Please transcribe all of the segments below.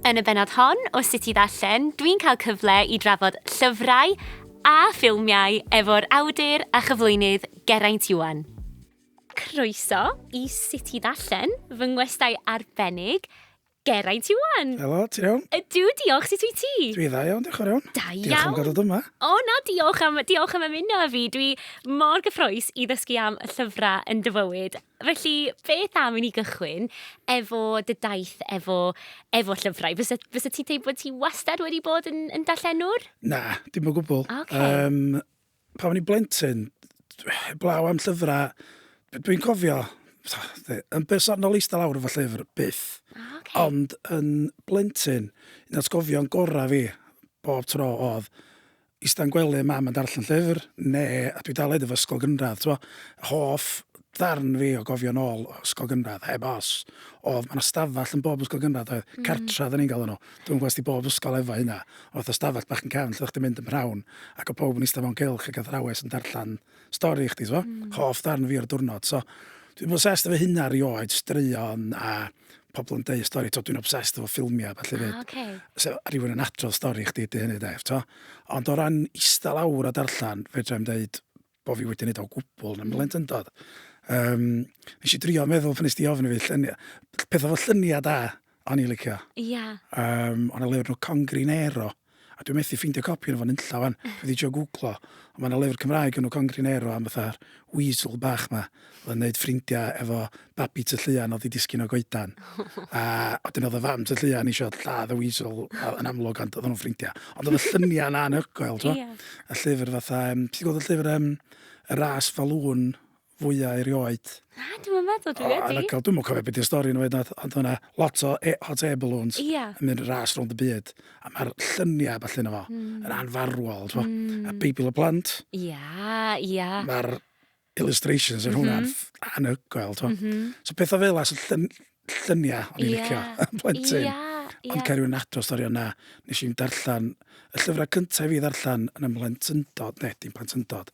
Yn y bennod hon o Sut i Ddarllen, dwi'n cael cyfle i drafod llyfrau a ffilmiau efo'r awdur a chyflwynydd Geraint Iwan. Croeso i Sut i Ddarllen, fy ngwestai arbennig, Geraint Iwan! Helo, ti'n iawn? Ydw, diolch, sut wyt ti? Dwi dda iawn, diolch yn fawr iawn. Da iawn! Diolch am gadw dyma. O na, diolch am, diolch am ymuno â fi, dwi mor gyffroes i ddysgu am y llyfrau yn dy fywyd. Felly, beth am i ni gychwyn efo dy daith efo, efo llyfrau? Fysa, fysa ti'n teimlo bod ti wastad wedi bod yn, yn darllenwr? Na, dim o gwbl. Okay. Um, pa o'n i'n blentyn, blaw am llyfrau, dwi'n cofio, yn bersonol eistedd lawr efo llyfr, byth. Ah, okay. Ond yn blentyn, un o'r sgofion gorau fi, bob tro oedd, ista'n gwely mam yn darllen llyfr ne a dwi dal edif ysgol gynradd t'mo hoff ddarn fi o gofio nol o ysgol gynradd heb os odd ma' 'na stafall yn bob ysgol gynradd oedd cartra odda ni'n galw n'w dwi'm yn gwbo os di bob ysgol efo hynna o fatha stafell bach yn cefn lle o'ch chdi'n mynd yn p'nawn ac o' powb yn ista mewn cylch ag athrawes yn darllan stori i chdi, so. Mm. Hoff ddarn fi o'r diwrnod, so. Dwi'n obsessed efo hynna rioed, straeon a pobl yn deud stori, to dwi'n obsessed efo ffilmiau, falle fyd. Ah, okay. So, rhywun yn adrodd stori i chdi, dy hynny def, to. Ond o ran istal awr a darllen, fe drwy'n dweud bod fi wedi gwneud o gwbl, na mlent yn dod. Um, nes i drio meddwl pan nes di ofyn i fi lluniau. Pethau fel lluniau da, O'n i'n licio. Ia. Yym, o' 'na lyfr enw Congrinero, a dwi methu ffeindio copi ono fo nunlla ŵan, dwi 'di trio gwglo, ond ma' 'na lyfr Cymraeg enw Congrinero am fatha'r weasel bach 'ma o'dd yn neud ffrindia efo babi tŷ Llŷan o'dd 'di disgyn o goedan. A wedyn o'dd y fam tŷ Llŷan isio lladd y weasel a- yn amlwg ond o'ddan nw'n ffrindia. Ond o'dd y llunia' 'na anhygoel t'mo'? Ia. Y llyfr fatha yym ti 'di gweld y llyfr yym Y Ras Falŵn? fwya erioed. Na, dwi'm yn meddwl dwi wedi. Yn y cael, dwi'm yn cofio beth yw'r stori nhw hyd ond yna lot o e hot air balloons yeah. yn mynd ras rhwng y byd. A mae'r lluniau falle yna fo, mm. yn anfarwol, twa. Mm. A Beibl y Plant. Ia, yeah, ia. Yeah. Mae'r illustrations yn mm -hmm. hwnna'n mhm. anhygoel, twa. Mm -hmm. So pethau fel as y llun, lluniau o'n i'n yeah. licio yn plentyn. Yeah, yeah. Ond cael rhywun ato stori yna, nes i'n darllen, y llyfrau cyntaf i fi ddarllen yn y mhlentyndod, ne, dim plentyndod,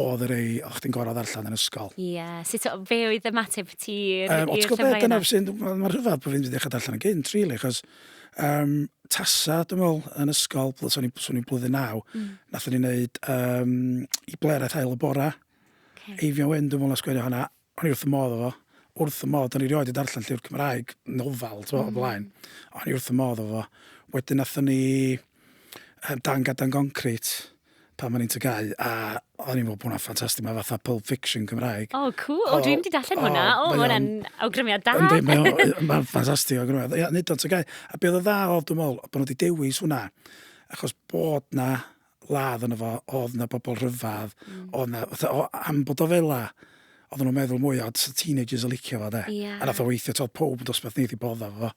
oedd yr ei, o'ch ti'n gorau ddarllen yn ysgol. Ie, yeah. sut so, fe oedd y mateb ti i'r um, llyfrau yna? Ond ti'n gwybod, dyna sy'n, mae'n rhyfedd bod fi'n wedi dechrau darllen yn gynt, really, chos um, tasa, dwi'n meddwl, yn ysgol, swn i'n blwyddyn naw, mm. nath ni'n neud um, i bleraeth ail y bora. Okay. Eifion Wyn, dwi'n meddwl, sgwennu hwnna. O'n i wrth fy modd efo fo. Wrth fy modd. O'n i rioed 'di darllen llyfr Cymraeg, nofel, t'mo', o'r blaen. O'n i wrth fy modd efo fo. Wedyn nathon ni yym Dan Gadan Goncrit pan o'n i'n tŷ Gau a o'n i'n me'wl bo' wnna'n ffantastig ma' fatha Pulp Fiction Cymraeg. O cŵl. O dwi'm 'di darllen hwnna. O mae o'n... O ma' wnna'n awgrymiad da! Yndi mae o yy ma'n ffantastig o awgrymiad. Ia neud o yn tŷ Gau. A be' o'dd yn dda o'dd dwi me'wl bo' nw 'di dewis hwnna achos bod 'na ladd yno fo, oedd 'na bobl rhyfedd, mm. oedd 'na... Fatha, o, am bod o fela, oedden nhw'n meddwl mwy, oedd teenagers yn licio fo, de. Yeah. A nath o weithio, todd pob yn dosbarth ni wedi bod o fo.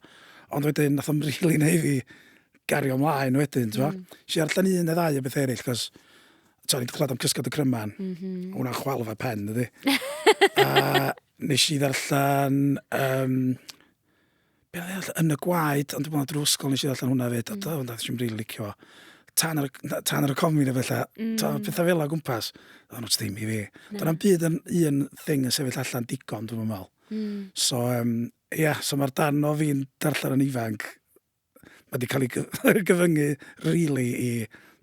Ond wedyn, nath o'n rili neu fi gario ymlaen wedyn, ti'n mm. Si ar llen un neu ddau o beth eraill, cos ti'n ni'n clywed am cysgod y cryman, mm -hmm. hwnna'n chwal fe pen, ydy. a nes i ddarllen um, Be' o'n i ddarllen? Yn y Gwaed, ond dwi me'wl drw ysgol nes i ddarllen hwnna 'fyd, a hmm. t'o' nes i'm rili licio fo. Tan ar y tan ar y comi ne' beth 'lla. Hmm. T'o' petha fela o gwmpas, odd o'n ddim i fi. Do' na'm byd yn un thing yn sefyll allan digon dwi'm yn me'wl. Hmm. So um, ia yeah, so mae'r darn o fi'n darllen yn ifanc ma' 'di cael ei gyfyngu rili i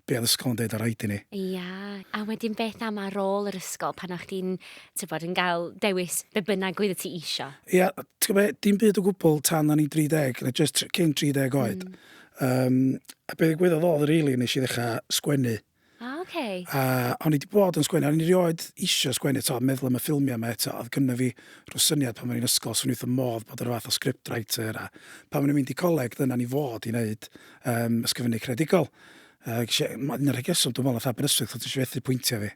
be oedd ysgol yn dweud ar rhaid i ni. Ie, yeah. a wedyn beth am ar ôl yr ysgol pan o'ch chdi'n, ti'n bod, yn cael dewis be bynnag oedd y ti isio? Ie, yeah, ti'n gwybod, dim byd o gwbl tan o'n i 30, na just cyn 30 oed. Mm. Um, a beth y gwyddoedd oedd, rili, really, nes i ddechrau sgwennu. Ah, oce. Okay. A o'n i wedi bod yn sgwennu, o'n i rioed eisiau sgwennu, to, meddwl am y ffilmiau yma eto, oedd gynnu fi rhyw syniad pan o'n i'n ysgol, swn i'n modd bod yr fath o script writer, a pan o'n i'n mynd i coleg, dyna ni fod i wneud um, ysgrifennu credigol. Uh, gysi, mae'n negesol, dwi'n meddwl, oedd Aberystwyth, oedd eisiau fethu pwyntiau fi.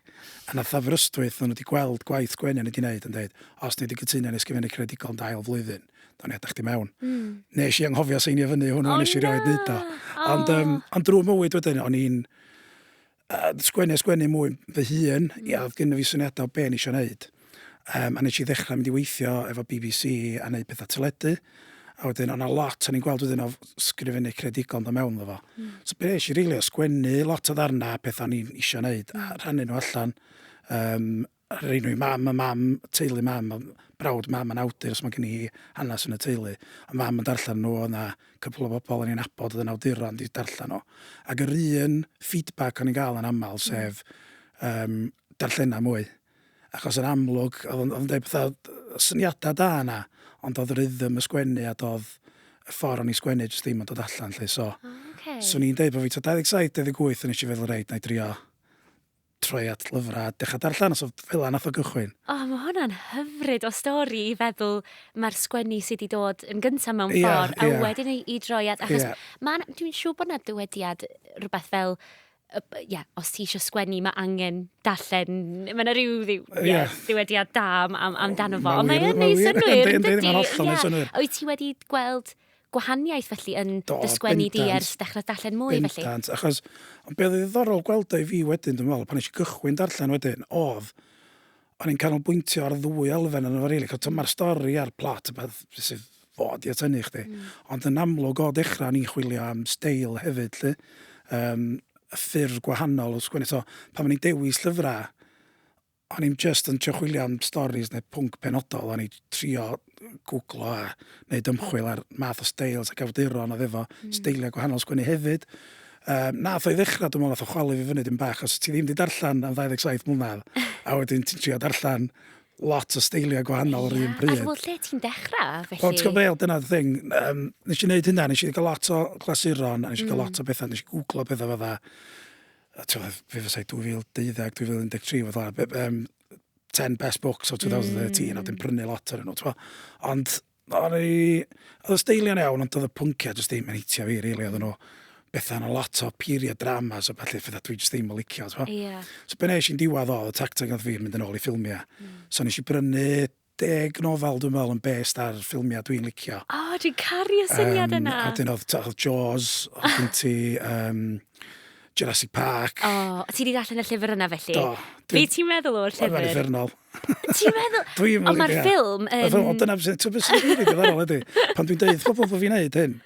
A nath Aberystwyth, o'n wedi gweld gwaith Gwenan wedi gwneud yn dweud, os ni wedi cytuno yn ysgrifennu credigol yn dail flwyddyn, da ni adach di mewn. Mm. Nes i anghofio seinio fyny hwnnw, oh, nes i rioed wneud o. Oh. Ond, um, ond drwy mywyd wedyn, o'n i'n uh, sgwennu a sgwennu mwy fy hun, mm. i oedd gynnu fi syniadau o be ni eisiau gwneud. Yym a nesh i ddechra mynd i weithio efo Bee Bee See a neud petha teledu a wedyn o' 'na lot o'n i'n gweld wedyn o f- sgrifennu creadigol yn do' mewn iddo fo. Hmm. So be' esh i rili o sgwennu lot o ddarna a petha o'n i'n isio neud a hmm. rhannu nhw allan yym a rhoi nhw i mam a mam teulu mam a brawd mam yn awdur so ma' gen i hanes yn y teulu. A mam yn darllen nhw o' 'na cwpwl o bobl o'n i'n nabod oedd yn awduron 'di darllen nhw. Ac yr un feedback o'n i'n ga'l yn amal hmm. sef yym darllena mwy. achos yn amlwg oedd o'n oedd o'n deud pethau yy syniadau da yna ond oedd rhythm y sgwennu a doedd y ffordd o'n i'n sgwennu jyst ddim yn dod allan 'lly so... O ocê. ...'swn i'n deud bod fi tua 27, 28 o'n i eisiau feddwl reit 'na i drio troi at lyfrau a dechrau darllen a so fel 'na wnaeth o gychwyn. O mae hwnna'n hyfryd o stori i feddwl mae'r sgwennu sydd wedi dod yn gyntaf mewn ffordd... Ia ia. ...a wedyn i i droi at achos... Ia. ...ma' 'na dwi'n siŵr bod 'na dywediad rhywbeth fel ie, os ti eisiau sgwennu, mae angen darllen, mae yna rhyw ddiw, ie, ddiwediad da am, am, amdano fo. Ond mae'n neud synnwyr, yn dydi? Ie. Wyt ti wedi gweld gwahaniaeth felly yn Do, dy sgwennu di bendant. ers dechrau darllen mwy felly? Bendant, achos ond be' oedd yn ddiddorol gweld o i fi wedyn dwi'n meddwl, pan nes i gychwyn darllen wedyn, oedd o'n i'n canolbwyntio ar ddwy elfen yn y rili, cael tyma'r stori a'r plot a beth sydd fod i atynu chdi. Mm. Ond yn amlwg o dechrau ni'n chwilio am steil hefyd lly, um, y ffyrdd gwahanol o sgwennu. So, pan o'n i'n dewis llyfrau, o'n i'n just yn trio chwilio am stories neu pwnc penodol, o'n i'n trio gwglo a wneud ymchwil ar math o steils ac awduron oedd efo mm. steiliau gwahanol sgwennu hefyd. Um, nath o'i ddechrau, dwi'n meddwl, nath o chwalu fi fyny dim bach, os ti ddim wedi darllen am 27 mlynedd, a wedyn ti'n trio darllen lot o steiliau gwahanol yr un pryd. A dwi'n lle ti'n dechrau, felly? Wel, ti'n gwybod, dyna'r thing. Um, nes i wneud hynna, nes i gael lot o glasuron, a nes i gael mm. lot o bethau, nes i googlo bethau fydda. A ti'n gwybod, fe fysau 2012-2013, fydda, um, 10 best books o 2013, mm. a dim prynu lot ar nhw, ti'n Ond, o'n i... Oedd y steilion iawn, ond oedd y pwnciau jyst ddim yn hitio fi, rili, oedd nhw bethau yna lot o period dramas a falle ffydda dwi jyst ddim yn licio. Yeah. So be nes i'n diwedd oedd y tacteg oedd fi'n mynd yn ôl i ffilmiau. Mm. So nes i brynu deg nofel dwi'n meddwl yn based ar ffilmiau dwi'n licio. O, oh, dwi'n caru y syniad um, yna. A dyn oedd, oedd Jaws, oedd gen ti um, Jurassic Park. O, oh, ti wedi darllen y llyfr yna felly? Do. Be ti'n meddwl o'r llyfr? Mae'n ffyrnol. Ti'n meddwl? Dwi'n meddwl. Ond mae'r ffilm yn... Dyna beth sy'n rili ddiddorol ydy. Pan dwi'n dweud pobl bod fi'n neud hyn,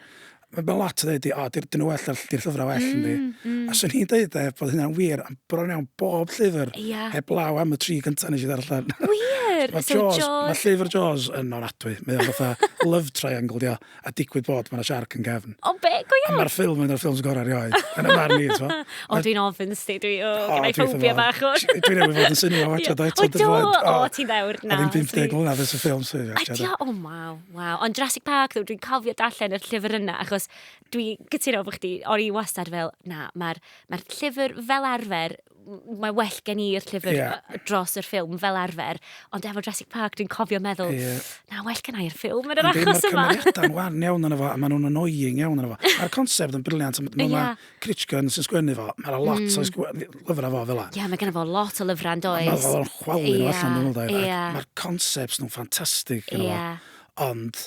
mae ma lot o ddeud, o, di'r dyn nhw well, di'r lly- llyfrau well mm, yndi. Mm. A swn i'n deud e, bod hynna'n wir, am bron iawn bob llyfr, yeah. heb law am y tri gyntaf nes i ddarllen. Wir! mae so Jaws, Jaws... Mae llyfr Jaws yn ofnadwy. Mae o'n fatha love triangle, dio, a digwydd bod mae'n siarc yn gefn. O, be, go iawn? Mae'r ffilm yn o'r ffilms gorau rioed. Yn y marn i, to. O, dwi'n ofyn sti, dwi, o, oh, gyda'i ffobia bach o. Dwi'n ei fod yn syni o watcha, da, eto, dwi'n flaen. O, ti'n ddewr, na. A ddim 50 mlynedd ys y ffilm sydd. A dio, o, maw. Waw, ond Jurassic Park ddo, dwi'n cofio darllen yr llyfr yna, achos dwi gytuno efo chdi, o'n i wastad fel, na, mae'r mae llyfr fel arfer, mae well gen i'r llyfr yeah. dros yr ffilm fel arfer, ond efo Jurassic Park dwi'n cofio meddwl, yeah. na, well gen i'r ffilm yn yr achos yma. Mae'r cymeriadau'n wan iawn yn efo, a maen nhw'n annoying iawn yn efo. A'r concept yn briliant, yeah. Critchgan sy'n sgwennu fo. Mae yna lot o sgw- lyfrau fo fel la. Ie, mae gennym fo lot o lyfrau yn Mae does. o'n chwalu nhw Ie, allan yn ymwneud. ie. Mae'r concepts nhw'n ffantastig. gyda fo. Ie. Ond,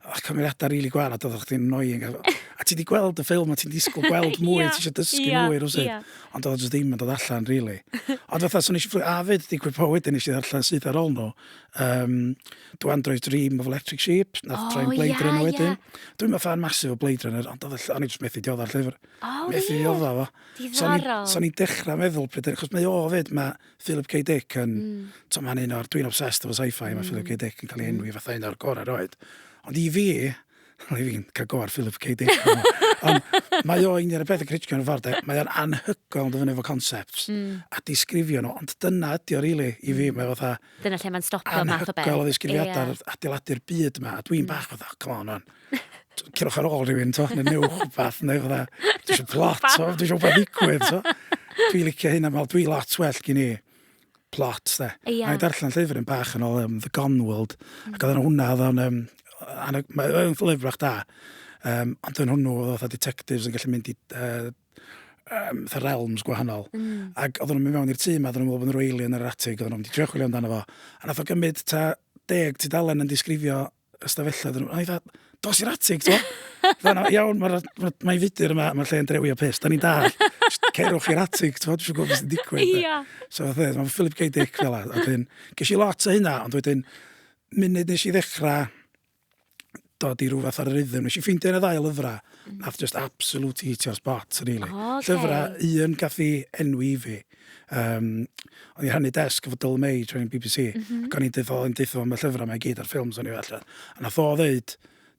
y cymeriadau rili gwael a doeddech chdi'n annoying. a- A ti di gweld y ffilm a ti'n disgwyl gweld mwy, Ie, ti eisiau dysgu ie, mwy rhywsut. ie. Ond oedd o jyst ddim yn dod allan, rili. Ond fatha, so nes i fflio... A fyd, digwydd po wedyn nes i ddarllen syth ar ôl nhw, Um, Do Android Dream of Electric Sheep, nath oh, train Blade yeah, Runner wedyn. Yeah. Dwi'n meddwl fan masif o Blade Runner, ond oedd o'n i jyst methu dioddau'r llyfr. Oh, methu yeah. dioddau fo. Diddorol. So ni'n dechrau meddwl pryd, achos mae o fyd, mae Philip K. Dick yn, mm. to mae'n un o'r, dwi'n obsessed efo sci-fi, mm. mae Philip K. Dick yn cael ei enwi mm. fatha un o'r gorau roed. Ond i fi, Rwy'n fi'n cael go ar Philip K. Dick. Ond mae o un o'r pethau critio yn y ffordd. Mae o'n anhygoel yn dyfynu efo concepts mm. a disgrifio nhw. Ond dyna ydi o, really, i fi. Mm. Mae fatha... Dyna lle mae'n stopio math o beth. Anhygoel o ddisgrifiadau yeah. adeiladu'r byd yma. A dwi'n mm. bach fatha, come on, man. Cyrwch ar ôl rhywun, to, neu newch rhywbeth, neu fatha, dwi eisiau plot, dwi eisiau rhywbeth ddigwydd, to. Dwi'n licio hyn am, dwi'n lot well gyn i plot 'de. Ia. A o'n i'n darllen llyfr yn bach yn ôl um, The Gone World mm. ac oedd hwnna oedd o'n um, mae'n llyfr bach da. Um, ond yn hwnnw oedd fatha detectives yn gallu mynd i uh, um, the realms gwahanol. Mm. Ac oedd nhw'n mynd mewn i'r tŷ yma, oedd nhw'n meddwl bod nhw'n rwyli yn yr atig, oedd nhw'n mynd i trio chwilio amdano fo. A nath o gymryd ta deg tudalen yn disgrifio ystafellad iddyn nhw. A i dda, dos i'r atig, to. Fana, iawn, mae'n ma, ma fudur yma, mae'r lle'n drewi o pus. Da ni'n dal, cerwch i'r atig, to, dwi'n gwybod beth sy'n digwydd. Ia. So, fe, mae'n Philip K. Dick fel yna. Wedyn, ges i lot o hynna, ond wedyn, munud nes i ddechrau dod i rhywbeth ar yr iddyn, nes i ffeindio yn y ddau lyfrau, mm. nath just absolute hitio spot, really. Oh, okay. Llyfrau, un gath i enwi i fi, um, o'n i rhannu desg efo Dylan May trwy'n BBC, mm -hmm. ac o'n i'n dweud o'n dweud am y llyfrau mae gyd a'r ffilms o'n i allan. A nath o ddeud,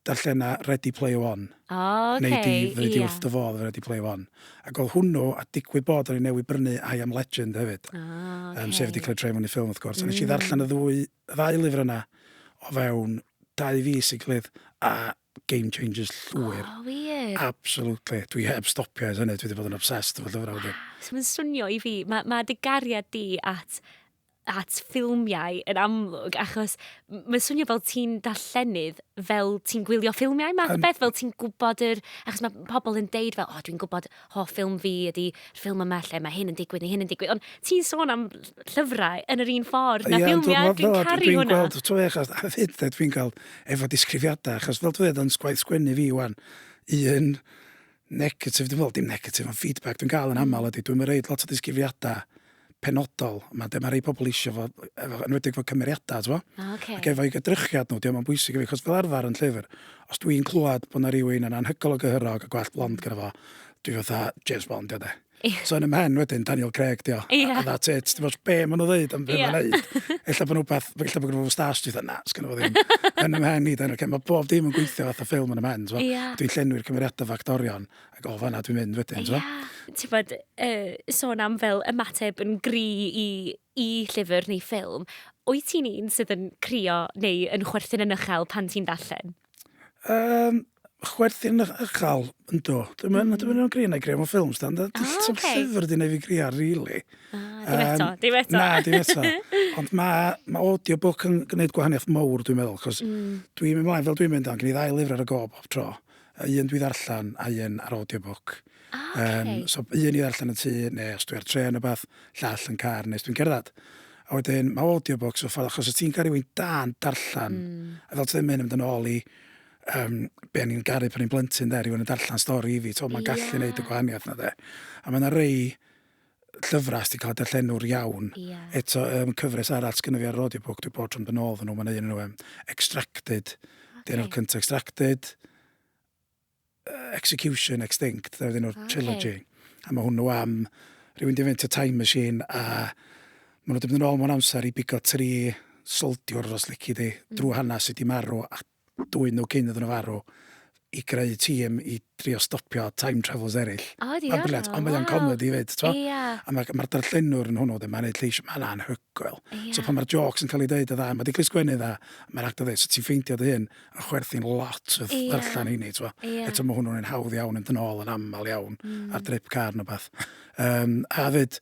darllen na Ready Play One. Oh, okay, Neu di, fyddi di wrth dy fodd Ready Play One. Ac oedd hwnnw, a digwydd bod o'n i newid brynu I Am Legend hefyd. Oh, okay. um, sef wedi cael ei trefnu i ffilm, wrth gwrs. Mm. A nes i mm. ddarllen y ddwy, y ddau lyfr yna o fewn dau fus i gilydd, a game changers llwyr. O, wir? Absolutely. Dwi heb stopio ers hynny, dwi wedi bod yn obsessed efo llyfrau wedyn. Mae'n swnio i fi, mae, mae dy gariad di at at ffilmiau yn amlwg, achos mae'n swnio fel ti'n darllenydd, fel ti'n gwylio ffilmiau math o beth, fel ti'n gwybod yr... Achos mae pobl yn deud fel, o, dwi'n gwybod hoff ffilm fi ydy ffilm yma lle mae hyn yn digwydd neu hyn yn digwydd. Ond ti'n sôn am llyfrau yn yr un ffordd na ffilmiau, dwi'n caru hwnna. Dwi'n gweld, ti'n gweld, achos a fyd, dwi dwi'n cael efo disgrifiadau, achos fel dwi'n dweud, gwaith sgwennu fi wan, un negatif, dwi'n meddwl, dim negatif, ond feedback dwi'n cael yn aml ydy, dwi'n mynd reid lot o disgrifiadau penodol yma lle mae rhai pobl eisiau fo, efo, enwedig fo cymeriadau, ti'n fo? Ah, okay. Ac efo i gydrychiad nhw, diolch yn bwysig i fi, chos fel arfer yn llyfr, os dwi'n clywed bod yna rhywun yn anhygol o gyhyrog a gwell blond gyda fo, dwi fatha James Bond, diolch de. So yn ymhen wedyn, Daniel Craig, diolch. Yeah. A that's it. Ti'n fawr, be maen nhw ddeud am beth yeah. maen nhw'n ddeud. Ella bod nhw beth, ella bod nhw'n stas dwi'n na, sgan fo ddim. yn ymhen i, Daniel Craig. Mae bob dim yn gweithio fath o ffilm yn ymhen. Yeah. Dwi'n llenwi'r cymeriadau factorion, Ac o fanna dwi'n mynd wedyn, ti'n yeah. Ti'n bod, uh, sôn am fel ymateb yn gri i, i llyfr neu ffilm, wyt ti'n un sydd yn crio neu yn chwerthin yn uchel pan ti'n darllen? Um, chwerthin yn uchel, ynddo. Dwi'n mynd mm. dwi'n grio neu grio mewn ffilms, dan. Ah, Dwi'n okay. llyfr di neu fi grio, really. Ah, dim eto, dim eto. Na, dim eto. Ond mae ma audiobook yn gwneud gwahaniaeth mawr, dwi'n meddwl, cos mm. dwi'n mynd mlaen fel dwi'n mynd, ond gen i ddau lyfr ar y gob, tro. A un dwi ddarllen a un ar audiobook. O ok. Yym so un i ddarllen yn tŷ ne' os dwi ar trên ne' wbath, llall yn car ne' os dwi'n cerddad. A wedyn ma' audiobooks y ffordd achos os ti'n ca'l rywun da'n darllen... Hmm. ...a fel ti ddeu ma' hyn yn mynd yn ôl i yym be' o'n i'n garu pan o'n i'n blentyn 'de rywun yn darllen stori i fi t'o' ma'n gallu... Ia. ...neud y gwahaniath 'na 'de. A ma' 'na rei llyfrau sy'n cael eu darllenwr iawn. Yeah. Eto, um, cyfres arall sgynny fi ar audiobook, dwi bod trwy'n benol fy nhw, mae'n un nhw, um, Extracted. Okay. Dyn nhw'r cyntaf Extracted, uh, Execution, Extinct, dyn nhw'r okay. trilogy. A mae hwnnw am rhywun di fynd y time machine a maen nhw wedi mynd yn ôl mewn amser i bigo tri soldiwr os lici di, mm. drwy hanes sydd wedi marw a dwyn nhw cyn iddyn nhw farw, i greu tîm i drio stopio time travellers eraill. O, diddorol, waw! Mae'n briliant, ond mae o'n comedi 'fyd, ti'n gwbod? Ia. A mae'r mae'r darllenwr yn hwnnw de, mae'n wneud lleisiau, mae'n anhygoel. Ia. So pan mae'r jôcs yn cael eu deud yn dda, mae 'di cael ei sgwennu'n dda, mae'r actor ddeud, so ti'n ffeindio dy hun yn chwerthin lot wrth Ia. ddarllen heini, ti'n gwbod? Ia. Eto mae hwnnw'n un hawdd iawn yn dynol yn aml iawn ar drip car neu beth. Yym, a 'fyd,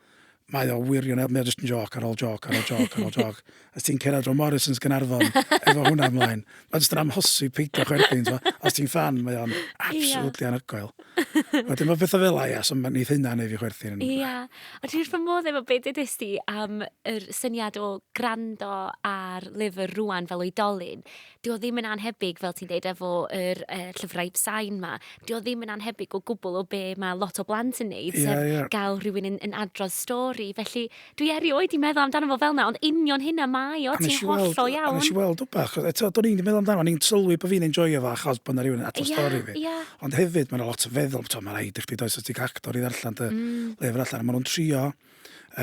mae o wirionedd, mae o just yn joc ar ôl joc ar ôl joc ar ôl joc. Os ti'n cerdded o Morrison's Gynarfon efo hwnna ymlaen, mae just yn amhosi peidio chwerthin. Os ti'n fan, mae o'n absolutely yeah. anhygoel. Wedyn mae bethau fel ia, so mae'n eith hynna neu fi chwerthin. Ia. Yeah. Ond ti'n fy modd efo beth ydys ti am yr syniad o grando ar lyfr rwan fel oedolyn. 'di o ddim yn annhebyg, fel ti'n deud, efo yr uh, llyfrau sain ma, 'di o ddim yn annhebyg o gwbl o be mae lot o blant yn neud, yeah, sef yeah. gael rhywun yn, yn adrodd stori. Felly, dwi erioed i meddwl amdano fo fel na, ond union hynna mae o, ti'n hollol iawn. A nes i weld o bach, eto, do'n i'n meddwl amdano, ni'n sylwi bod fi'n enjoy o fa, achos bod yna rhywun yn adrodd yeah, stori fi. Yeah. Ond hefyd, mae'n lot o feddwl, mae'n rhaid i chdi does o ti'n actor i ddarllen dy mm. lyfr allan, a maen nhw'n trio,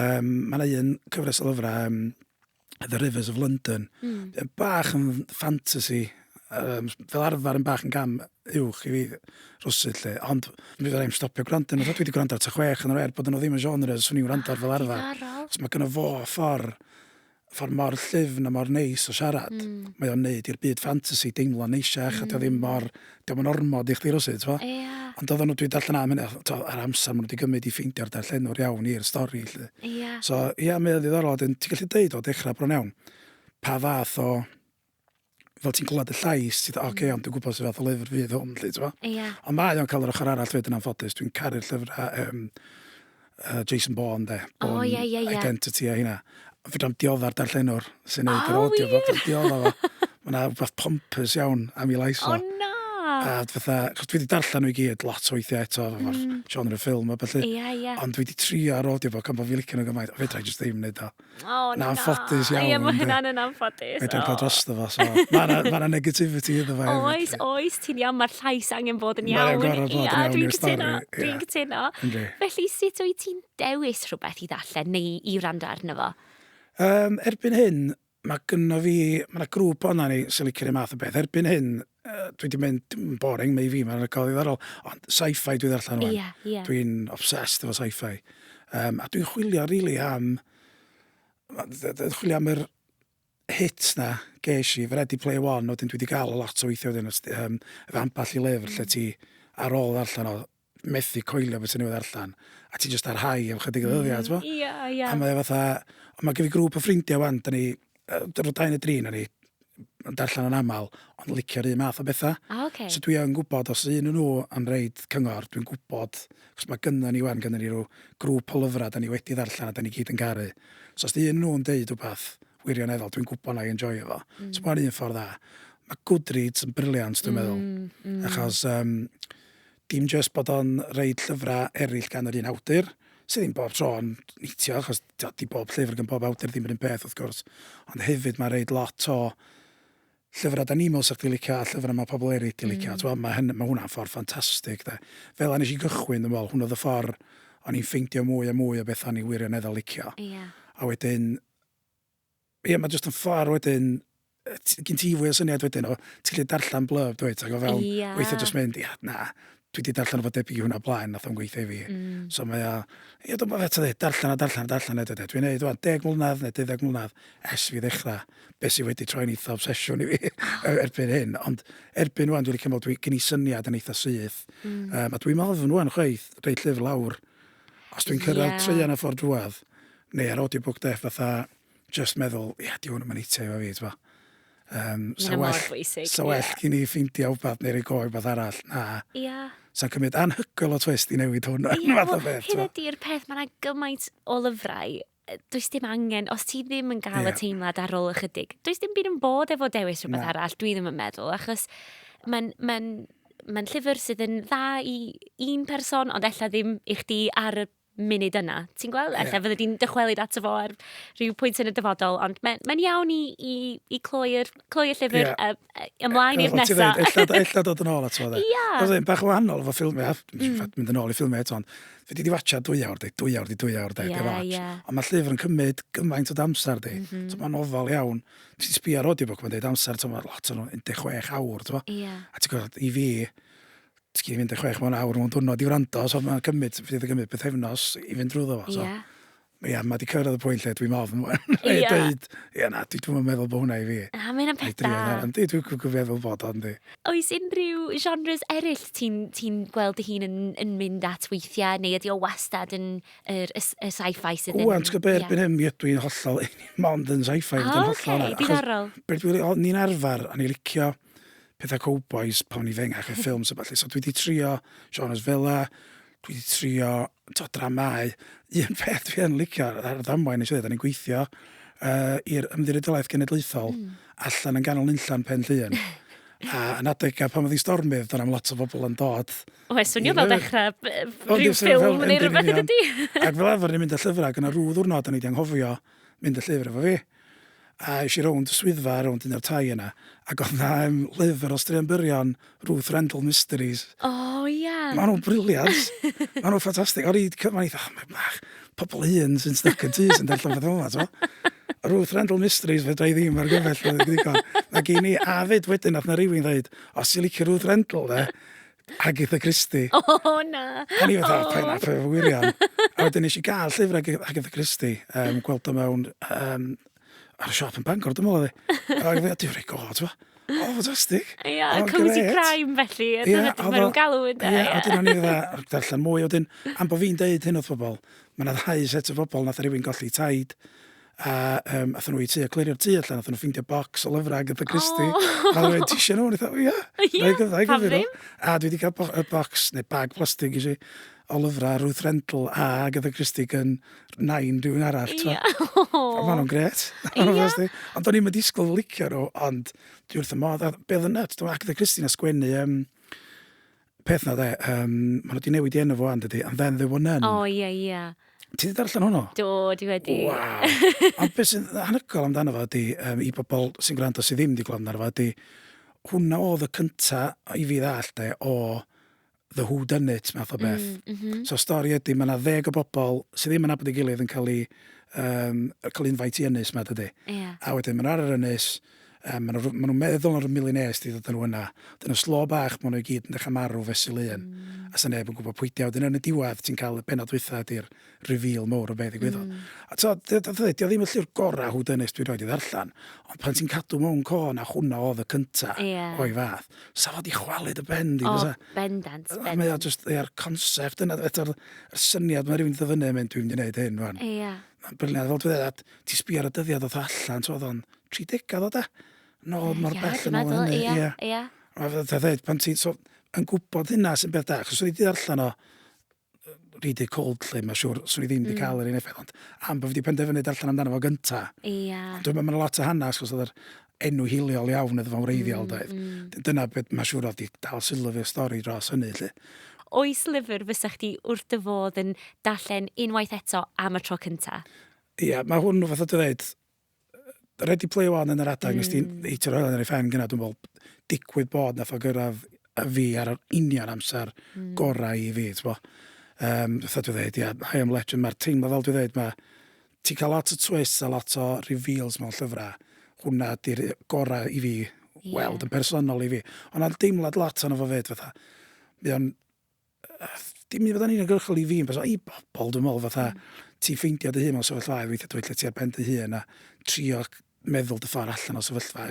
um, mae'n un cyfres o lyfrau, um, The Rivers of London. Mm. Yn bach yn fantasy, um, fel arfer yn bach yn gam uwch i fi rwsyd lle. Ond mi fydda i'n stopio gwrando yn dwi wedi gwrando ar ta chwech yn yr er bod yno ddim yn genre os o'n i'n gwrando ar fel arfer. Diddorol. Os mae gyda fo ffordd ffordd mor llyfn a mor neis o siarad. Mm. Mae o'n neud i'r byd fantasy deimlo neisiach mm. a dio ddim hmm. mor diom yn ormod i chdi rywsut, t'mo'? Ia. Ond oeddan nhw, dwi'n darllen am hynna, t'mo' yr amser ma' nhw 'di gymryd i ffeindio'r darllenwr iawn i'r stori 'lly. Ia. So ia mae o'n ddiddorol wedyn ti'n gallu deud o dechrau bron iawn pa fath o fel ti'n clywed y llais ti fatha ocê hmm. iawn dwi'n gwybod sut fath o lyfr fydd hwn 'lly t'mo'? Ia. Ond mae o'n cael yr ochr arall wedyn anffodus dwi'n caru'r llyfrau yym uh, Jason Bourne, de. Bourne oh, yeah, yeah, yeah. Identity a hynna. Fydra am dioddar darllenwr sy'n neud yr audio fo. Fydra dioddar fo. Mae yna rhywbeth pompus iawn am i lais o. Oh, na! A fatha, chos dwi wedi darllen nhw i gyd lot o weithiau eto, mm. genre ffilm a felly. Yeah, yeah. Ond dwi wedi trio ar audio fo, gan bod fi licio nhw gymaint, a fedra i jyst ddim wneud o. Oh, na. Na'n ffodus iawn. Ie, mae hynna'n yn anffodus. Mae'n cael drosto fo, so. Mae'n ma negativity iddo fe. Oes, oes, ti'n iawn, mae'r llais angen bod yn iawn. Mae'n gorau bod yn iawn i'r stori. Dwi'n cytuno. Felly, sut wyt ti'n dewis rhywbeth i ddallen neu i wrando arno fo? Um, erbyn hyn, mae gynno fi, mae yna grŵp o'na ni sy'n licio rhywun math o beth. Erbyn hyn, uh, dwi wedi mynd, yn boring mae i fi, mae'n record ddiddorol, ond sci-fi dwi ddarllen rwan. Yeah, yeah. Dwi'n obsessed efo sci-fi. Um, a dwi'n chwilio rili really am, dwi'n chwilio am yr hit na ges i, fy Ready Play One, wedyn dwi wedi cael lot o weithio wedyn, um, efo amball i lyfr lle ti ar ôl ddarllen o, methu coelio beth sy'n newydd allan, a ti jyst ar high am chydig o ddyddiau, mm, ti'n Ia, ia. A mae e fatha, ond mae gen i grŵp o ffrindiau wan, da ni, dyn nhw dau neu drin, a ni yn darllen yn aml, ond licio'r un math o bethau. Ah, okay. So dwi yn gwybod, os un nhw yn reid cyngor, dwi'n gwybod, cos mae gynnu ni wan, gynnu ni rhyw grŵp o lyfrau, da ni wedi ddarllen a da ni gyd yn garu. So os di un nhw'n deud rhywbeth wirioneddol, dwi'n gwybod na i enjoy efo. Mm. So mae'n un ffordd dda. Mae Goodreads yn briliant, dwi'n mm, meddwl. Mm. Achos um, Dim jyst bod o'n roid llyfrau eraill gan yr un awdur, sydd ddim bob tro yn neitio, achos tibod, 'di bob llyfr gan bob awdur ddim yr un peth wrth gwrs, ond hefyd mae'n roid lot o llyfrau da ni'n meddwl sa chdi'n licio a llyfrau mae pobl eraill 'di licio. Mm. Tibod, mae, hyn, mae hwnna'n ffordd ffantastig. De. Fel a nes i gychwyn, dwi'n meddwl, hwn oedd y ffordd o'n i'n ffeindio mwy a mwy o beth o'n i wirioneddol licio. Yeah. A wedyn, Ie, mae jyst yn ffordd wedyn, gyn ti fwy o syniad wedyn o, ti'n gallu darllen blurb, dweud, ac o fewn, yeah. weithio jyst mynd, ia, na, dwi wedi darllen o fod debyg i hwnna blaen, nath o'n gweithio i fi. Mm. So mae o, ie, dwi'n meddwl eto dweud, darllen a darllen a darllen eto dweud. Dwi'n neud, dwi'n deg mlynedd neu deuddeg mlynedd es fi ddechrau, beth sy'n wedi troi'n eitha obsesiwn i fi e-, erbyn hyn. Ond erbyn rwan, dwi'n cymryd, dwi'n gynnu syniad yn eitha syth. Mm. Um, a dwi'n meddwl fy nhw'n chweith, rei llyfr lawr, os dwi'n cyrraedd yeah. treian y ffordd drwad, neu ar audiobook def fatha just meddwl, ia, di hwn yn eithaf efo fi, ti'n Um, so well, bwysig, so well yeah. cyn i ffeindio wbeth neu roi goi wbeth arall. Na. Yeah. Sa'n cymryd anhygoel o twist i newid hwn. Ie, well, hyn ydy'r peth, mae'n gymaint o lyfrau does dim angen, os ti ddim yn gael yeah. y teimlad ar ôl ychydig, does dim byd yn bod efo dewis rhywbeth no. arall, dwi ddim yn meddwl, achos mae'n ma mae'n llyfr sydd yn dda i un person, ond ella ddim i chdi ar y munud yna. Ti'n gweld? Ella yeah. fydde di'n dychwelyd ato fo ar rhyw pwynt yn y dyfodol, ond mae'n mae iawn i, i, i cloi'r cloi y llyfr yeah. uh, ymlaen i'r nesaf. Ella dod yn ôl ato fo. Ia. Oedd e'n bach o wahanol efo ffilmiau, mm. mynd yn ôl i ffilmiau eto, ond fi wedi watcha dwy awr, de, dwy awr, de, dwy awr, de, yeah, watch. Yeah. Ond mae llyfr yn cymryd gymaint o damser, de. Mm -hmm. Mae'n ofal iawn. Ti'n sbio ar audio book, mae'n dweud amser, ti'n meddwl, lot o'n 16 awr, ti'n meddwl. Yeah. A ti'n gwybod, i fi, ti'n gallu mynd i chwech mewn awr mewn diwrnod i wrando, so mae'n cymryd, fydd yn cymryd pethefnos i fynd drwy ddo fo. So. Yeah. Ia, mae wedi cyrraedd y pwynt lle dwi'n ofn. Ie. Dweud, ia na, dwi dwi'n meddwl bod hwnna i fi. A mae'n am peth da. Yndi, dwi'n dwi'n meddwl bod o, yndi. Oes unrhyw genres eraill ti'n ti gweld dy hun yn, yn mynd at weithiau, neu ydy o wastad yn yr, y, y sci-fi sydd yn... Ww, ti'n gwybod erbyn hyn, mi ydw i'n hollol, mond yn sci-fi. O, oce, diddorol. Beth dwi'n, ni'n arfer, a ni'n licio, pethau cowbois pan o'n i fengach, y ffilms a ballu. So dwi wedi trio genres fela, dwi wedi trio to, dramau. Un peth dwi yn licio ar ar ddamwain nes i ddweud, o'n i'n gweithio uh, i'r Ymddiriedolaeth Genedlaethol mm. allan yn ganol nunllan pen llun. A yn adegau pan oedd hi stormydd, dyna am lot o bobl yn dod. O, e swnio fel dechrau rhyw ffilm neu rhywbeth ydy. Ac fel arfer ni'n mynd â llyfrau, gyda rhyw ddwrnod o'n i wedi anghofio, mynd y llyfr efo fi. A es i rownd y swyddfa, rownd un o'r tai yna, ac oedd yna um, lyfr o straeon byrion, Ruth Rendell Mysteries. O, oh, ie. Yeah. Mae nhw'n briliant. Mae nhw'n ffantastig. O'r un cyfan, eitha, oh, mae bach, pobl un sy'n stuck yn tu sy'n darllen fath yma, to. Ruth Rendell Mysteries, fe dra i ddim ar gyfell, fe ddigon. Mae gen i, a fyd wedyn, oedd na rywun ddweud, os ti'n licio Ruth Rendell, de, Agatha Christie. O, oh, na. A ni fatha, oh. pa'n apfa efo wirion. a wedyn nes i gael llyfr Ag Agatha Christie, um, gweld o mewn um, ar y siop yn Bangor, dwi'n meddwl oedd Ac fe, dwi'n rhaid god, fo. O, oh, fantastic. Ie, yeah, oh, cozy crime felly. Ie, yeah, oedd o'n galw yn da. Ie, yeah, oedden nhw'n ei dda, darllen mwy. Oedden, am bod fi'n deud hyn wrth bobl, mae yna ddau set o bobl nath rhywun golli taid A um, athyn nhw i tŷ a clirio'r tŷ allan, athyn nhw ffindio bocs o lyfrau Agatha Christie. Oh. A dweud, ti eisiau nhw? Nid o, ia. Ie, pam ddim? A dwi wedi cael bo y bocs, neu bag plastig i si, o lyfrau Ruth Rendell a Agatha Christie gan nain rhywun arall. Ie. Oh. Mae nhw'n gret. Ie. Ond o'n i'n disgwyl licio nhw, ond dwi wrth y modd. Beth yn nut, dwi'n Agatha Christie na sgwennu um, peth na dde, um, maen nhw wedi newid i enw fo and ydy, and then there were none. O, ie, ie. Ti wedi darllen hwnnw? Do, di wedi. Wow. Ond beth sy'n anhygoel amdano fo ydy, um, i bobl sy'n gwrando sydd ddim wedi gweld amdano fo ydy, hwnna oedd y cynta i fi ddall de, o The Who Done It, math o mm, beth. Mm, mm -hmm. So stori ydy, mae yna ddeg o bobl sydd ddim yn abod ei gilydd yn cael ei um, cael unfaint i ynys ma dydy. Yeah. A wedyn mae'n ar yr ynys, Yym ma' nw ma' nw'n meddwl ar y millionaires 'di dod â nhw yna. Dyn nhw slo bach ma' nhw i gyd yn dechra marw fesul un a sa neb yn gwbo pwydio. Wedyn yn y diwedd ti'n ca'l y pennod dwytha ydi'r reveal mowr o be' ddigwyddodd. A t'o' dy- dy- ddy- 'di o ddim y llyfr gora' who done it dwi rioed 'di ddarllan ond pan ti'n cadw mewn co na hwnna odd y cynta... Ie. ...o'i fath sa fo 'di chwalu dy ben di bysa? O bendant bendant. A mae o jyst ie'r concept yna eto'r y syniad ma' rywun 'di do' fyny a mynd dwi mynd i neud hyn rwan. Ia. Ma'n brilliant fel dwi ddeud a ti sbio ar y dyddia doth o allan t'mod odd o'n tri degad o de, nôl mor Ie, bell yn dwi'n ôl meddwl, hynny, ie, ie. ie. A fel ti'n dweud, pan ti'n so, yn gwybod hynna sy'n beth da, achos o'n i wedi darllen o, yy, read it cold lle, mae'n siŵr, swn i ddim wedi cael yr un effaith, ond am bod fi wedi penderfynu darllen amdano fo gynta, Ia. Ond dwi'n meddwl mae'n lot o hanes, achos oedd yr enw hiliol iawn iddo fo'n wreiddiol, mm, doedd. Mm. Dyna beth mae'n siŵr oedd di dal sylw fi'r stori dros hynny, lle. Oes lyfr fysa chdi wrth dy fodd yn darllen unwaith eto am y tro cynta? Ia, mae hwn yn fath o dweud, Ready Player One yn yr adeg, mm. nes ti'n eitio roedd yn ei ffen gyna, dwi'n meddwl, digwydd bod nath o gyrraedd y fi ar yr union amser mm. gorau i fi, ti'n bo. Um, Fytha dwi'n dweud, ia, high am legend, mae'r teimlo fel dwi'n dweud, mae ti'n cael lot o twist a lot o reveals mewn llyfrau. Hwna di'r gorau i fi yeah. weld yn personol i fi. Ond na'n deimlad lot o'n fo fyd, fatha. Mae o'n dim i fod yn uniongyrchol i fi, ond i bobl, dwi'n meddwl, fatha, mm. ti'n ffeindio dy hun mewn sefyllfa, weithiau dwi'n lle ti ar ben dy hun, a trio meddwl dy ffordd allan o sefyllfa.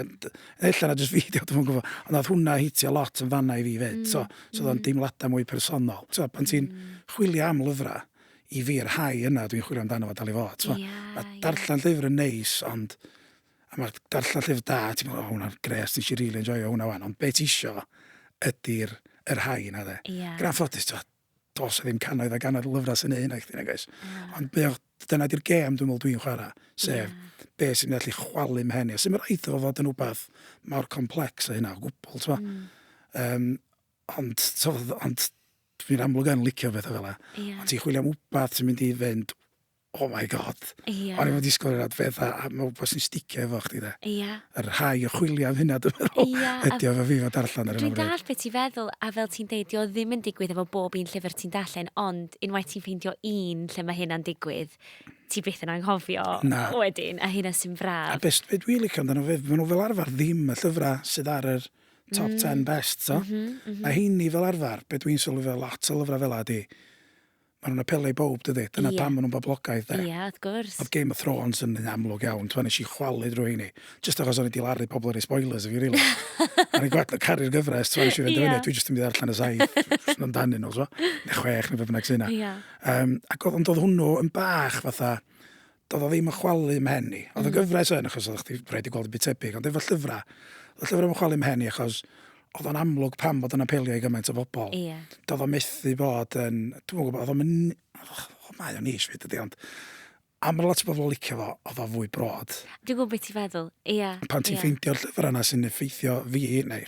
Ella na jyst fi, dwi'n gwybod, ond oedd hwnna hitio lot yn fanna i fi fyd. Mm. So, so mm. deimladau mwy personol. So, pan mm. ti'n chwilio am lyfrau, i fi, yr hau yna dwi'n chwilio amdano fo dal i fod. So, yeah, yeah. darllen llyfr yn neis, ond A mae'r darllen llyfr da, ti'n meddwl, o, hwnna'n gres, nes i rili really enjoyo hwnna wan. Ond beth isio ydy'r y rhai yna, dde. Yeah. Gran ffodus, ti'n dos o ddim canoedd a ganoedd lyfrau sy'n ei hynna i chdi, nag oes. Yeah. Ond beth, dyna di'r gêm dwi'n meddwl dwi'n chwarae, sef yeah. beth sy'n gallu chwalu mhen i. A sy'n mynd rhaid o fod yn rhywbeth mor complex o hynna o gwbl, ti'n meddwl. Mm. Um, ond, so, ond dwi'n amlwg yn licio beth o fel yna. Yeah. Ond ti'n chwilio am wbath sy'n mynd i fynd, oh my God. Ia. O'n i wedi sgwrdd â adfedda a mae wbeth sy'n sticio efo chdi de. Ia. Yr rhai o chwilio am hynna dwi'n meddwl. Ia. Ydy o fe fi fo darllen ar hyn o bryd. Dwi'n dall beth ti'n feddwl a fel ti'n deud dio ddim yn digwydd efo bob un llyfr ti'n darllen ond unwaith ti'n ffeindio un lle mae hynna'n digwydd ti byth yn anghofio Na. wedyn a hynna sy'n fraf. A best beth dwi'n licio amdano fe, maen nhw fel arfer ddim y llyfrau sydd ar yr top mm. 10 best, so. Mm -hmm, mm -hmm. Mae heini fel arfer, beth dwi'n sylwi fel lot o lyfrau fel ydy, Mae nhw'n apelio i bawb, dydy? Dyna yeah. pam maen nhw'n boblogaidd, de? Ie, yeah, wrth gwrs. Oedd Game of Thrones yn un amlwg iawn, tw'n eisiau chwalu drwy hynny. Just achos o'n i wedi laru pobl ar ei spoilers, fi, rili. Ar ei gwad, caru'r gyfres, tw'n eisiau fynd yeah. dwi jyst yn mynd allan y saith, sy'n amdanu nhw, so. Neu chwech, neu fe bynnag sy'n yna. Yeah. Um, ac oedd, ond oedd hwnnw yn bach fatha, do'dd o ddim yn chwalu 'm mhen i. O'dd y hmm. gyfres yn achos oddach chdi rhaid i gweld y byd tebyg ond efo llyfra, o'dd y llyfra ddim yn chwalu 'm mhen i achos oedd o'n amlwg pam bod o'n apelio i gymaint o bobl. Ie. Yeah. Do'dd o methu bod yn dwi'm yn gwybod, oedd o'n yn o mae o'n nish fyd ydi ond am bod lot o bobl yn licio fo, oedd o fwy brod. Dwi'n gwybod beth ti'n feddwl, ie. Yeah. Pan ti'n yeah. ffeindio'r llyfr yna sy'n effeithio fi neu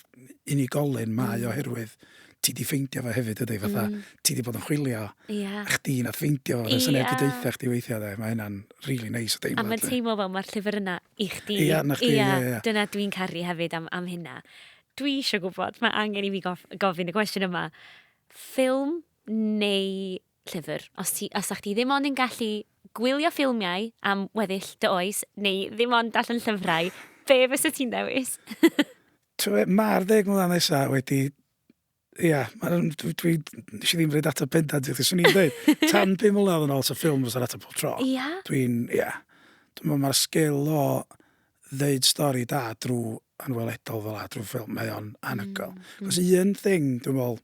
unigolyn mae mm. oherwydd ti di ffeindio fo hefyd ydy, fatha, mm. ti di bod yn chwilio, yeah. a chdi nath ffeindio fo, yeah. neb wedi deitha chdi weithio, dde. mae hynna'n really nice o deimlo. A mae'n teimlo fel mae'r llyfr yna i chdi. Ia, na chdi, ia, ia. Dyna dwi'n caru hefyd am, am hynna. Dwi eisiau gwybod, mae angen i fi gof, gofyn y cwestiwn yma. Ffilm neu llyfr? Os, ti, os ti ddim ond yn gallu gwylio ffilmiau am weddill dy oes, neu ddim ond allan llyfrau, be fysa ti'n dewis? Tibod be, mae'r ddeg mlynedd nesa wedi... Ia, ma' nw'n dwi dwi nes i ddim roid ateb pendant i chdi. Swn i'n deud tan pum mlynedd yn ôl 'sa ffilm fysa'r ateb pob tro. Ia? Dwi'n, ia. Dwi me'wl ma'r sgil o ddeud stori da drw anweledol fel 'a, drw ffilm, mae o'n anhygoel. Mm. 'C'os un thing dwi me'wl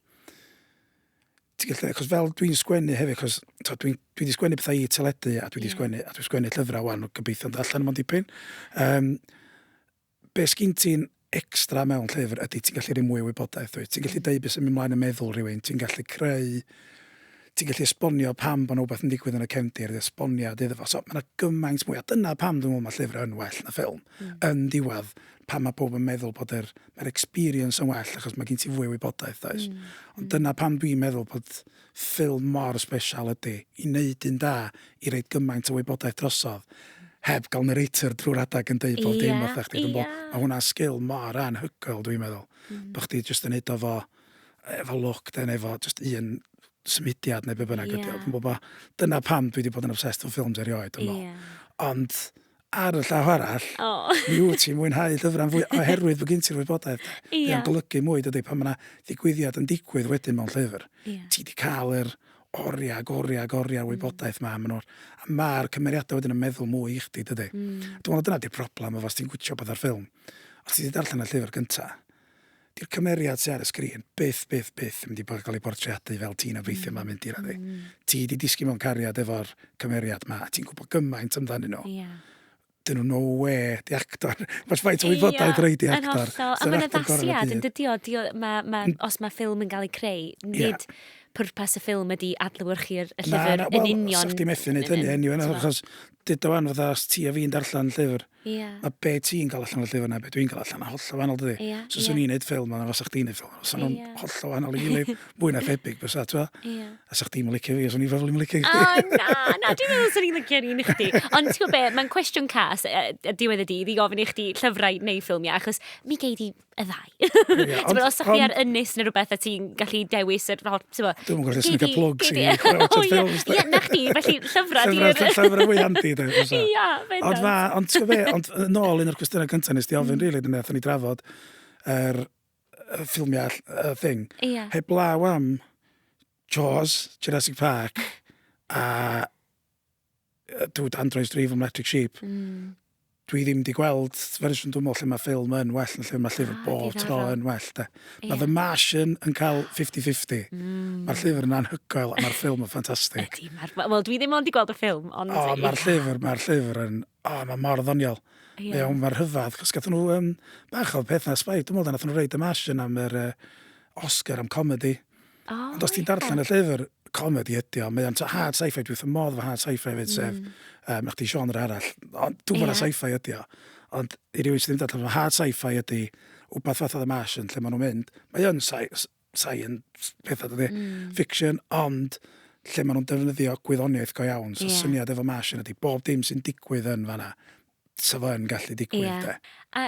ti gallu... 'C'os fel dwi'n sgwennu hefyd 'c'os t'od dwi'n dwi 'di sgwennu pethau i teledu a dwi 'di... Ie. ...sgwennu a dwi'n sgwennu llyfrau 'wan, gobeithio'n dod allan mond dipyn. Yym. Be sgin ti'n extra mewn llyfr ydy ti'n gallu rhoi mwy o wybodaeth wyt. Ti'n gallu deud beth sy'n mynd mlaen yn meddwl rhywun, ti'n gallu creu, ti'n gallu esbonio pam bod yna wbeth yn digwydd yn y cefndir, esboniad iddo fo. So mae yna gymaint mwy, a dyna pam dwi'n meddwl mae llyfr yn well na ffilm. Mm. Yn diwedd, pam mae pob yn meddwl bod yr, mae'r experience yn well achos mae gen ti fwy o wybodaeth, oes? Mm. Ond dyna pam dwi'n meddwl bod ffilm mor sbesial ydy i wneud un da, i roid gymaint o wybodaeth drosodd, heb gael narrator drwy'r adeg yn deud bob dim wrtha chdi. Dwi'n meddwl, mae hwnna'n sgil mor anhygoel, dwi'n meddwl, bod chdi jyst yn neud o fo, efo lwc de, neu efo jyst un symudiad neu be bynnag ydy o. Dwi'n meddwl bod, dyna pam dwi wedi bod yn obsessed efo ffilms erioed, dwi'n meddwl. Ond, Ar y llaw arall, mi wyt ti'n mwynhau llyfrau'n fwy oherwydd bod gen ti'r wybodaeth. Ie. Mae o'n golygu mwy, dydy, pan mae yna ddigwyddiad yn digwydd wedyn mewn llyfr. Ie. Ti wedi cael yr oriau ac oriau ac oriau o wybodaeth ma, maen nhw'r... a mae'r cymeriadau wedyn yn meddwl mwy i chdi, dydy. Mm. Dwi'n meddwl dyna di'r problem efo os ti'n gwtio pethau o'r ffilm. Os ti wedi darllen y llyfr gyntaf, 'di'r cymeriad sy ar y sgrin byth, byth, byth yn mynd i bod yn cael ei bortreadu fel ti'n obeithio mae'n mynd i raddu. Mm. Ti wedi disgyn mewn cariad efo'r cymeriad ma, a ti'n gwybod gymaint amdanyn nhw. Yeah. Dyn nhw no we, di actor. Mae'n ffaith o wybodaeth rhaid i actor. A mae'n addasiad yn dydio, ma, ma, mm. os mae ffilm yn cael ei creu, nid yeah. pwrpas y ffilm ydy adlywyrchu'r llyfr na, na, well, yn union. Na, na, wel, sa'ch ti'n methu wneud hynny, anyway, achos dyd o fan fydda, os ti a fi'n darllen llyfr, Ie. A be ti'n gael allan o'r llyfr yna, be dwi'n gael allan, a hollol wahanol dydy. Ie, so, ie. So, ni'n neud ffilm, ond os o'ch ti'n neud ffilm, os o'n hollol wahanol i gilydd, mwy na thebyg, bys atwa. Ie. A sa'ch ti'n licio fi, os o'n i'n probably yn licio chdi. O, na, na, dwi'n meddwl os o'n i'n licio ni'n chdi. Ond ti'n gwybod be, mae'n cwestiwn cas, a diwedd y dydd, i gofyn i chdi llyfrau neu ffilmiau, achos mi gei di y ddau. Yeah, ond, os ydych chi ar ynys neu rhywbeth a ti'n gallu dewis yr hot... Dwi'n gwybod gallu snicio plwg sy'n ei crwt yn ffils. Ie, na chdi, felly llyfrau di. Llyfrau fwy handi, da. Ia, fe Ond fa, ond ti'n gwybod ond yn ôl un o'r cwestiynau cyntaf nes di ofyn, mm. rili, dwi'n meddwl, ni drafod yr er, ffilmiau uh, thing. Ia. Heb law am Jaws, Jurassic Park, a Duw dan droes drif am Electric Sheep. Mm. Dwi ddim wedi gweld fersiwn dwi'n meddwl lle mae ffilm yn well yn lle mae llyfr ah, bob tro yn well. De. Yeah. Mae The Martian yn cael 50-50. Mm. Mae'r llyfr yn anhygoel a mae'r ffilm yn ffantastig. Wel, dwi ddim ond wedi gweld y ffilm. Ond... O, oh, mae'r llyfr, mae'r llyfr yn... O, oh, mae mor ddoniol. Yeah. Iawn, mae'r hyfad. Cos gath nhw um, bach o peth na sbaid. Dwi'n meddwl, nath nhw reid y Martian am yr uh, Oscar am comedi. Oh, Ond os ti'n darllen y llyfr, comedi ydi o. Mae o'n hard sci-fi, dwi'n wrth modd fy hard sci-fi hefyd, mm. sef, um, eich di genre arall. Ond dwi'n yeah. sci-fi ydi o. Ond i rywun sydd ddim darllen, mae hard sci-fi ydi wbeth fath o The Martian, lle maen nhw'n mynd. Mae o'n science, pethau dydy, mm. fiction, ond lle maen nhw'n defnyddio gwyddoniaeth go iawn. So yeah. syniad efo Martian ydi, bob dim sy'n digwydd yn fanna, sa fo'n gallu digwydd, yeah. de. A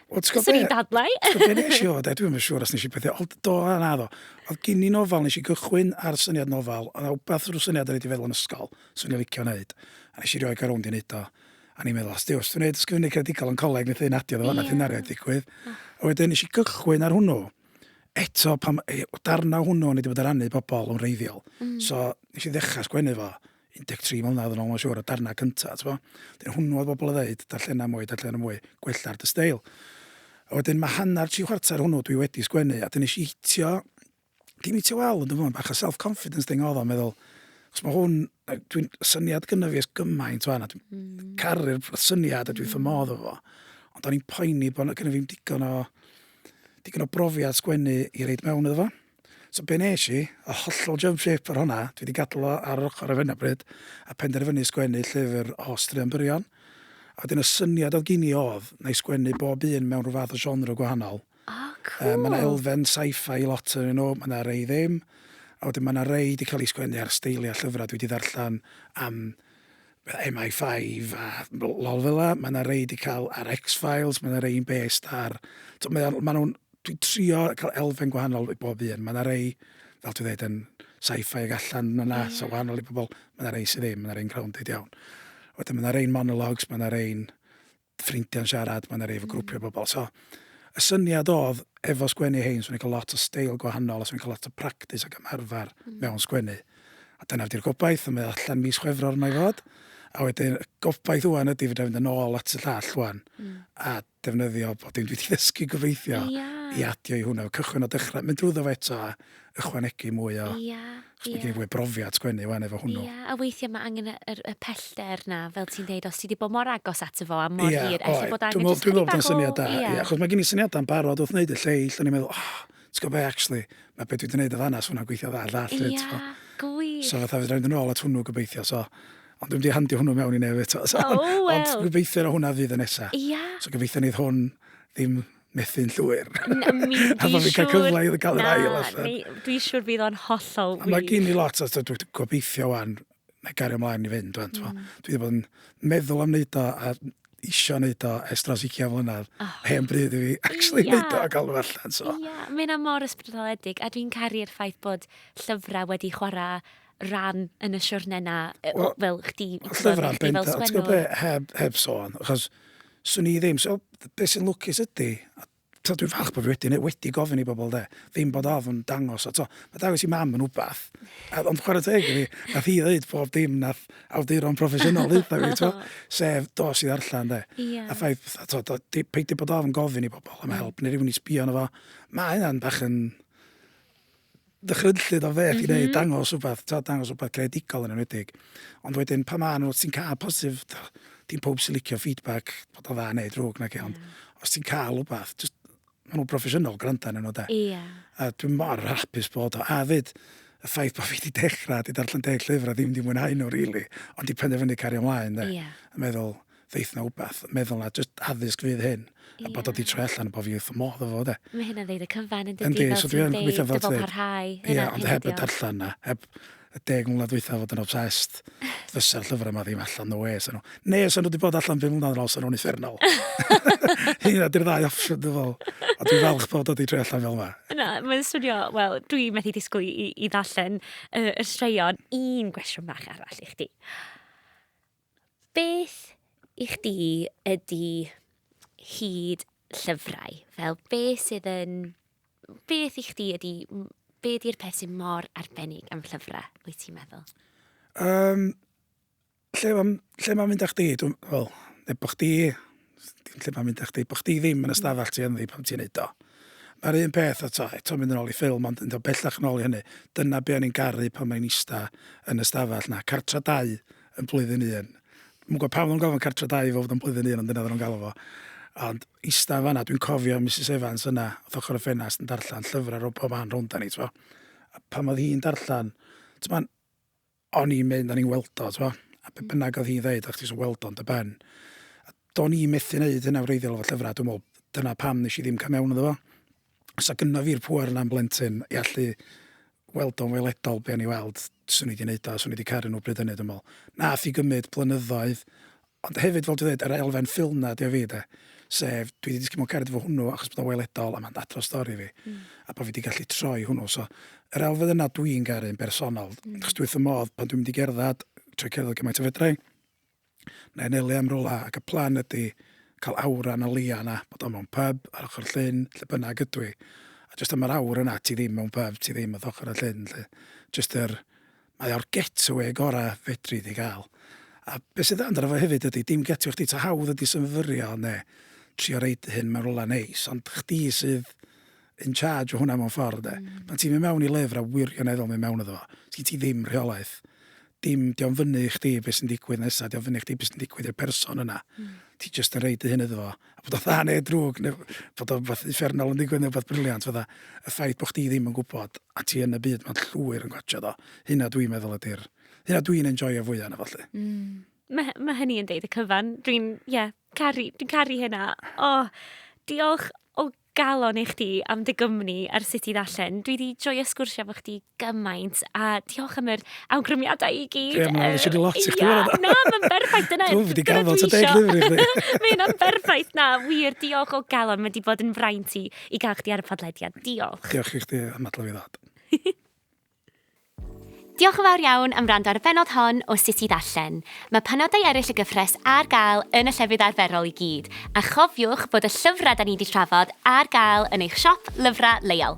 Wel, ti'n gwybod Swn i'n dadlau. Ti'n gwybod beth nes i o, de? Dwi'n yn siŵr os nes i bethau. Ond do, a na do. Oedd gyn i nofel, nes i gychwyn ar syniad nofel. Oedd na wbeth rhyw syniad o'n i wedi feddwl yn ysgol, swn i'n licio wneud. A nes i rioed gael rownd i wneud o. A ni'n meddwl, os dwi'n wneud wneud ysgrifennu credigol yn coleg, wnaeth ei nadio ddo, wnaeth hynna rioed digwydd. A wedyn nes i gychwyn ar hwnnw eto, pam, darnau hwnnw o'n i wedi bod yn rannu pobl yn reiddiol. Mm. So, nes i ddechrau sgwennu fo, 13 mlynedd yn ôl mae'n siŵr, y darnau cyntaf, ti'n gwybod? Wedyn hwnnw oedd bobl yn ddeud, darllenau mwy, darllenau mwy, gwella'r dy steil. A wedyn mae hanner tri chwarter hwnnw dwi wedi sgwennu, a dyn nes i hitio, dim hitio wal, ond dwi'n bach o self-confidence thing oedd o'n meddwl, Os mae hwn, dwi'n syniad gyda fi ys gymaint o'n, a dwi'n mm. caru'r syniad a dwi'n mm. ffamodd o fo. Ond o'n i'n poeni bod gyda fi'n digon o, digon o brofiad sgwennu i reid mewn iddo fo. So be nes i, y hollol jump ship ar honna, dwi 'di gadl o ar yr ochor ar hyn o bryd, a penderfynu sgwennu llyfr o straeon byrion. A wedyn y syniad o'dd gin i o'dd, 'na i sgwennu bob un mewn rhyw fath o genre gwahanol. O, cŵl! Yy ma' 'na elfen sci-fi i lot ohonyn nw, ma' 'na rei ddim, a wedyn ma' 'na rei 'di ca'l eu sgwennu ar steilia llyfra dwi 'di ddarllan am yy MI5 a l- lol fela, ma' 'na rei 'di ca'l ar X-Files, ma' 'na rei'n based ar, t'o' mae o'n ma' nw'n dwi'n trio cael elfen gwahanol i bob un. Mae yna rei, fel ti'n dweud, yn sci-fi ag allan yna, yeah. so wahanol i bobl. Mae yna rei sydd ddim, mae yna rei'n grounded iawn. Wedyn mae yna rei'n monologues, mae yna rei'n ffrindiau'n siarad, mae yna rei efo grwpiau mm. bobl. So, y syniad oedd, efo sgwennu hyn, swn i'n cael lot o steil gwahanol, a swn i'n cael lot o practis ac ymarfer mm. mewn sgwennu. A dyna wedi'r gobaith, a mae allan mis chwefror yma i fod. A wedyn, y gobaith wwan ydy fydda fynd yn ôl at y llall wwan, mm. a defnyddio bod dim dwi 'di ddysgu gobeithio... Ia. ...i adio i hwnna. Cychwyn o dechra, mynd drwyddo fo eto a ychwanegu mwy o... Ia, ia. ...'chos ma' gen i fwy o brofiad sgwennu ŵan efo hwnnw. Ia, a weithia' ma' angen y yr y pellter 'na fel ti'n deud os ti 'di bod mor agos ato fo a mor hir... Ia, oedd. ...ella bod angen jyst chydig bach o... Dwi me'wl dwi me'wl bod o'n syniad da. Ia. Ia, achos ma' gen i syniada yn barod wrth neud y lleill o'n i'n meddwl oh, t'go' be' actually ma' be' dwi 'di neud yn fan 'na sa hwnna'n gweithio dda llall 'fyd t'mo'? Ia, gwych. So fatha fedra i fynd yn ôl at hwnnw gobeithio so Ond dwi'n di handio hwnnw mewn i nef eto. So, oh, well. Ond gobeithio na hwnna fydd y nesa. Ia. So gobeithio nid hwn ddim methu'n llwyr. Na, mi di siwr. A bod fi'n cael cyfle i gael yr ail allan. Dwi siwr bydd o'n hollol wych. Mae gen i lot, a dwi'n gobeithio wan, na gario ymlaen i fynd. Wan, mm. Dwi wedi bod yn meddwl am wneud o, a isio wneud o ers dros 20 mlynedd. Oh. Hen bryd i fi actually yeah. wneud o a gael nhw allan. So. Ia, yeah. mae'n mor ysbrydoledig a dwi'n caru'r ffaith bod llyfrau wedi chwarae ran yn y siwrne na, yy, Wel, fel chdi, i gwbod, llyfrau i chdi fel bendant, ti'n gwybod sgwennwr? be, heb, heb sôn, achos swn i ddim, so, be sy'n lwcus ydy, a to, dwi'n falch bod fi wedi, neu wedi gofyn i bobl de, ddim bod ofn dangos, a to, mae dangos i mam yn wbath, a, ond chwarae teg i fi, nath hi ddeud pob dim nath awduron proffesiynol ddeitha fi, to, sef dos i ddarllen de, Ie. a ffaith, fatha, to, do, di, peidio bod ofn gofyn i bobl am help, neu rhywun i sbio yno fo, mae hynna'n bach yn, ddychrynllyd o beth mm -hmm. i wneud, mhm. dangos rhywbeth, ta, dangos rhywbeth creadigol yn enwedig. Ond wedyn, pa maen nhw, ti'n cael positif, dim pob sy'n licio feedback, bod o dda neu drwg nag e, ond yeah. os ti'n cael rhywbeth, just, maen nhw'n broffesiynol gwrando yn enw de. Yeah. A dwi'n mor hapus bod o. A fyd, y ffaith bod fi wedi dechrau, wedi darllen deg llyfr a ddim wedi mwynhau nhw, really, ond di penderfynu cario ymlaen, de. Yeah. A meddwl, ddeith na wbath, meddwl na jyst addysg fydd hyn, yeah. a bod o di troi allan a bod fi wrth y modd efo fo, de. Mae hynna'n ddeud y cyfan yn dydi, fel so ti'n deud, dyfod parhau. Ie, yeah, ond heb y darllen na, heb y deg mlynedd dweitha fod yn obsessed, fysa'r llyfrau yma ddim allan, no way, sy'n nhw. Ne, sy'n nhw wedi bod allan ddim mlynedd yn ôl, sy'n nhw'n effernol. Hynna, dy'r ddau opsiwn, dwi'n fel. A dwi'n falch bod o wedi troi allan fel yma. Na, mae'n swnio, wel, dwi'n methu disgwyl i, i, i ddarllen y, y straeon. Un gwestiwn fach arall i chdi. Beth i chdi ydi hyd llyfrau? Fel be sydd yn... Beth i chdi ydi... Be di'r peth sy'n mor arbennig am llyfrau, wyt ti'n meddwl? Um, lle mae'n lle ma mynd â chdi? Dwi'n, wel, efo chdi, Dim lle mae'n mynd â chdi, bod chdi ddim yn y stafell ti ynddi pan ti'n neud o. Mae'r un peth o to, eto mynd yn ôl i ffilm, ond yn dod bellach yn ôl i hynny, dyna be o'n i'n garu pan mae'n ista yn y stafell na, cartra dau yn blwyddyn un. Mwyn gwybod pam oedd o'n gofyn cartra dau i fod yn blwyddyn un, ond dyna oedd o'n galw fo. Ond ista fanna, dwi'n cofio Mrs Evans yna, oedd ochr y ffenast yn darllen llyfrau rhwng pob man rhwnd ni, ti'n pan oedd hi'n darllen, ti'n o'n i'n mynd, o'n i'n weld o, t'mo'? A be' bynnag oedd hi'n ddeud, o'ch ti jyst yn weld o'n dy ben. A do'n i methu wneud hynna wreiddiol efo llyfrau, dwi'n meddwl, dyna pam nes i ddim cael mewn iddo fo. Os o gynno fi'r pŵer yna'n blentyn i allu weld o'n weledol be o'n i weld, swn i wedi wneud o, swn i wedi caru nhw bryd hynny, dwi'n meddwl. Nath i gymryd blynyddoedd, Ond hefyd, fel dwi'n dweud, yr elfen ffilm 'na ydy o i fi de. Sef, dwi 'di disgyn mewn cariad efo hwnnw achos bod o'n weledol a mae'n dadl o stori fi. Mm. A bod fi 'di gallu troi hwnnw. So, yr elfen yna dwi'n garu yn bersonol. Mm. Achos dwi wrth fy modd pan dwi'n mynd i gerdded, trwy cerdded gymaint o fedra i, na i am rwla, ac y plan ydy cael awr yna leia yna, bod o mewn pub ar ochr llyn, lle bynnag ydw i. A jyst am yr awr yna, ti ddim mewn pub, ti ddim wrth ochr y llyn, lle. Jyst yr, Mae o'r getawê gora fedri di gael. A be sy'n dda amdano fo hefyd ydi dim getawê chdi ta hawdd ydi symud fyrio ne trio roid dy hun mewn rwla neis ond chdi sydd in charge o hwnna mewn ffordd de. Hmm. Pan ti'n mynd mewn i lyfr a wirioneddol mynd mewn iddo fo, sgin ti ddim rheolaeth. Dim, dio'n fyny i chdi beth sy'n digwydd nesa, dio'n fyny i chdi beth sy'n digwydd i'r person yna. Hmm. Ti jyst yn rhoid dy hun iddo fo. a bod o'n dda neu drwg neu bod o'n fath uffernol yn digwydd neu beth briliant fydda y ffaith bod chdi ddim yn gwybod a ti yn y byd mae'n llwyr yn gotio do. Hynna dwi'n meddwl ydy'r... Hynna dwi'n enjoyio fwy yna fo lly. Mm. Mae, mae hynny yn deud y cyfan. Dwi'n, ie, yeah, caru, dwi'n caru hynna. O, oh, diolch o Galon i chdi am dy gwmni ar Sut i Ddarllen. Dwi 'di joio sgwrsio efo chdi gymaint, a diolch am yr awgrymiadau i gyd. Ie, mae eisiau di lot i chdi. Ia, na, mae'n berffaith, dyna... Dwi'n wedi gafod ta deg lyfr i chdi. Mae hynna'n berffaith, na, wir, diolch o galon, mae wedi bod yn fraint i, i gael chdi ar y podlediad, diolch. Diolch i chdi am adlywio ddod. Diolch yn fawr iawn am wrando ar y bennod hon o Sut i Ddarllen. Mae penodau eraill y gyfres ar gael yn y llefydd arferol i gyd, a chofiwch bod y llyfrau 'da ni 'di trafod ar gael yn eich siop lyfrau leol.